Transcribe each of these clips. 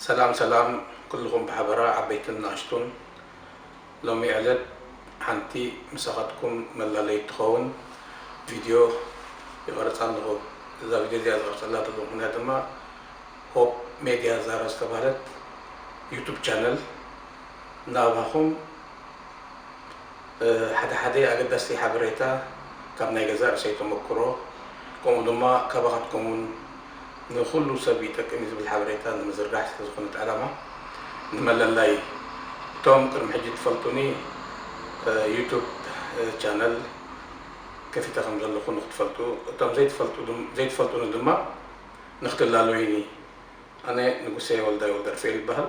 ሰላም ሰላም ኩሉኹም ብሓበራ ዓበይትን ናእሽቱን ሎሚ ዕለት ሓንቲ ምሳኻትኩም መላለይት ትኸውን ቪድዮ ይቐርፅ ኣለኹ እዛ ቪድዮ እዚኣ ዝቐርፀላ ዘለኹ ምኽንያት ድማ ሆፕ ሜድያ ዛራ ዝተባህለት ዩቱብ ቻነል ናባኹም ሓደ ሓደ ኣገዳስቲ ሓበሬታ ካብ ናይ ገዛእ ርእሰይ ተመኩሮ ከምኡ ድማ ካባኻትኩም እውን ንኹሉ ሰብ ይጠቅም እዩ ዝብል ሓበሬታ ንምዝርጋሕ ስለ ዝኾነ እቲ ዕላማ ንመለላይ እቶም ቅድሚ ሕጂ ትፈልጡኒ ዩቱብ ቻነል ከፊተ ከም ዘለኹ ንኽትፈልጡ እቶም ዘይትፈልጡኒ ድማ ንኽትላለዩኒ ኣነ ንጉሴ ወልዳይ ወልደርፍኤል ይበሃል።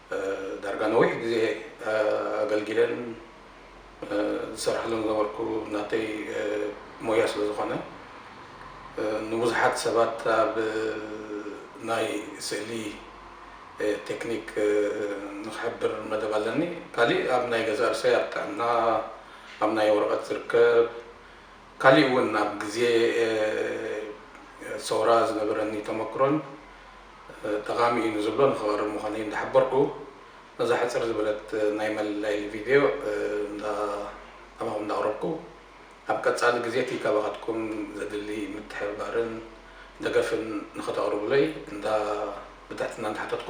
ዳርጋ ነዊሕ ግዜ ኣገልጊለን ዝሰርሓሉን ዝነበርኩ ናተይ ሞያ ስለ ዝኾነ ንብዙሓት ሰባት ኣብ ናይ ስእሊ ቴክኒክ ንኽሕብር መደብ ኣለኒ። ካሊእ ኣብ ናይ ገዛእ ርእሰይ ኣብ ጥዕና ኣብ ናይ ወረቐት ዝርከብ ካሊእ እውን ኣብ ግዜ ሰውራ ዝነበረኒ ተመክሮን ጠቓሚ እዩ ንዝብሎ ንኸቕርብ ምዃነይ እንዳሓበርኩ፣ ነዛ ሕጽር ዝበለት ናይ መለለይ ቪድዮ ኣባኹም እንዳቕረብኩ፣ ኣብ ቀጻሊ ግዜቲ ካባኻትኩም ዘድሊ ምትሕብባርን ደገፍን ንኸተቕርቡለይ እንዳ ብትሕትና እንዳሓተትኩ፣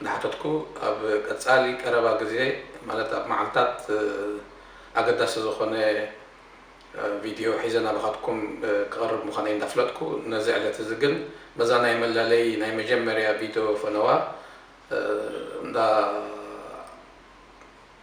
እናሓተትኩ ኣብ ቀፃሊ ቀረባ ግዜ ማለት ኣብ መዓልታት ኣገዳሲ ዝኾነ ቪድዮ ሒዘ ናባኻትኩም ክቐርብ ምዃነይ እንዳፍለጥኩ ነዚ ዕለት እዚ ግን በዛ ናይ መላለዪ ናይ መጀመርያ ቪድዮ ፈነዋ እንዳ